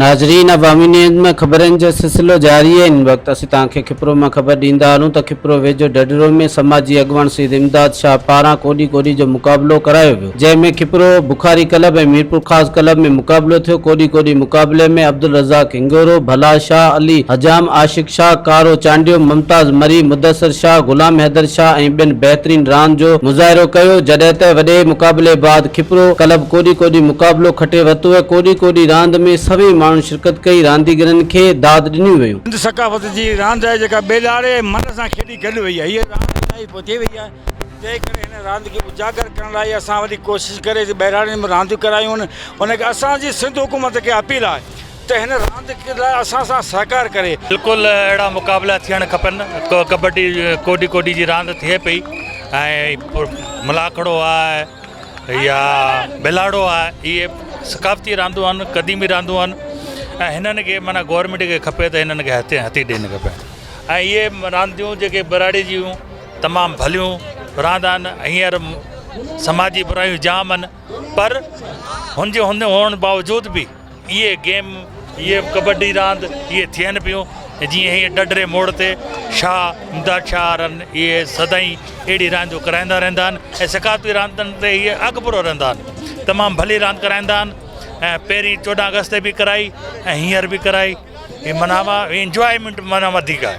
ناظرين عوامي نيوز ۾ خبرن جو سلسلو جاري آهي ان وقت اسين توهان کي کپرو مان خبر ڏيندا هلون ته کپرو ويجهو ڍڍڙو ۾ سماجي اڳواڻ سيد امداد شاهه پاران ڪوڏي ڪوڏي جو مقابلو ڪرايو ويو جنهن ۾ کپرو بخاري ڪلب ۽ ميرپورخاص ڪلب ۾ مقابلو ٿيو ڪوڏي ڪوڏي مقابلي ۾ عبدالرزاق کنگهورو، ڀلا شاهه علي، حجام عاشق شاهه، ڪارو چانڊيو، ممتاز مري، مدثر شاهه، غلام حيدر شاهه ۽ ٻين بهترين راند جو مظاهرو ڪيو، جڏهن ته وڏي مقابلي بعد کپرو ڪلب ڪوڏي ڪوڏي مقابلو کٽي ورتوء، ڪوڏي ڪوڏي راند ۾ سوين ماڻهن شرڪت ڪئي، رانديگرن کي داد ڏنيون ويون. سنڌ ثقافت جي هي راند آهي جيڪا ٻيڏاڙي ۽ من سان کيڏي گڏ وئي آهي، هيء راند الائي پوئتي وئي آهي، تنهن ڪري هن راند کي اجاگر ڪرڻ لاء اسان وڏي ڪوشش ڪري ٻهراڙين ۾ رانديون ڪرايون آهن، ان ڪري اسان جي سنڌ حڪومت کي اپيل آهي. ته هن راند لاء اسان سان سهڪار ڪري. بلڪل اهڙا مقابلا ٿيڻ کپن ڪبڊي ڪوڏي ڪوڏي جي راند ٿئي پئي ۽ ملاکڙو آ يا بلاڙو آ اهي ثقافتي راندون آهن قديمي راندون آهن ۽ هنن کي معنيٰ گورمينٽ کي کپي ته هنن کي هٿي هٿي ڏيڻ کپي ۽ اهي رانديون جيڪي براڙي جون تمام ڀليون راند آهن هينئر سماجي برايون جام آهن پر هن جي هن هئڻ باوجود به اهي گيم، اهي ڪٻڊي راند اهي ٿين پيون ۽ جيئن هيء ڏڍري موڙ تي شاهه امداد شاهه وارن اهي سدائين اهڙي رانديون ڪرائيندا رهندا آهن ۽ ثقافتي راندن تي هيء اڳڀرو رهندا آهن. تمام ڀلي راند ڪرائيندا آهن ۽ پهرين چوڏهن آگسٽ تي به ڪرائي ۽ هينئر به ڪرائي هي معنيٰ انجوائيمينٽ معنيٰ وڌيڪ آهي.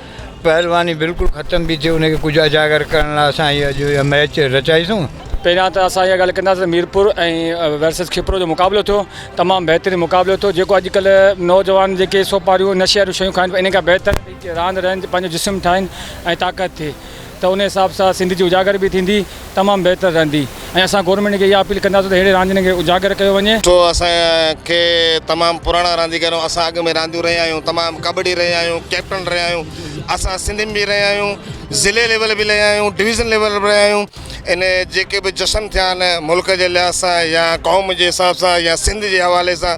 پهلواني بلڪل ختم به ٿي ان کي ڪجهه اجاگر ڪرڻ لاء اسان هي اڄ اها ميچ رچائيسون. پهريان ته اسان اها ڳالهه ڪنداسين ته ميرپور ۽ ورسز کپرو جو مقابلو ٿيو تمام بهترين مقابلو ٿيو جيڪو اڄڪلهه نوجوان جيڪي سوپاريون نشي واريون شيون کائن پيا ان کان بهتر راند رهن پنهنجو جسم ٺاهين ۽ طاقت ٿئي ته ان حساب سان سنڌ جي اجاگر به ٿيندي تمام بهتر رهندي ۽ اسان گورنمينٽ کي اها اپيل ڪنداسون ته اهڙي راندين کي اجاگر ڪيو وڃي. سو اسان کي تمام پراڻا رانديگر اسان اڳ ۾ رانديون رهيا آهيون تمام ڪٻڊي رهيا آهيون ڪيپٽن رهيا آهيون اسان سنڌ ۾ به رهيا آهيون ضلعي ليول به رهيا آهيون ڊويزن ليول به رهيا آهيون ان جيڪي به جشن ٿيا آهن ملڪ جي لحاظ سان يا قوم جي حساب سان يا سنڌ جي حوالي سان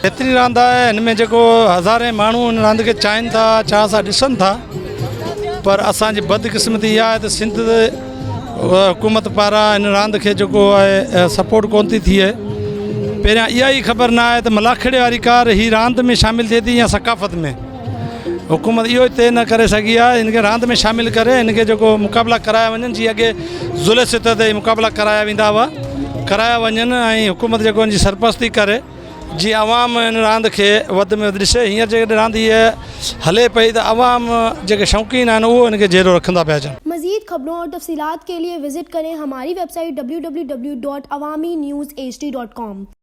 بهترين راند آهي هن ۾ جيڪو هزارين ماڻهو هن راند کي چاهين ٿا چاهه سان ڏسن ٿا پر اسان جي بدقسمتي اها آهي ته سنڌ حڪومت پاران هن راند کي جيڪو آهي سپورٽ ڪون ٿي ٿئي پهريان اها ئي خبر نه آهي ته ملاکڙي واري ڪار هي راند ۾ شامل ٿئي ٿي يا ثقافت ۾ حڪومت اهو ئي طئي نه ڪري سگهي آهي هن کي راند ۾ شامل ڪري هن کي جيڪو مقابلا ڪرايا وڃن جي اڳي ضلع سطح تي مقابلا ڪرايا ويندا هئا ڪرايا وڃن ۽ حڪومت جيڪو هن جي سرپرستي ڪري جيئن عوام ان راند کي وڌ ۾ وڌ ڏسي هينئر جيڪڏهن راند هيء هلي پئي ته عوام جيڪي شوقين آهن اهو ان کي جهيڙو رکندا پيا اچن. مزيد خبرون اور تفصيلات کے لئے وزٽ ڪرين هماري ويب سائيٽ www.awaminews hd.com.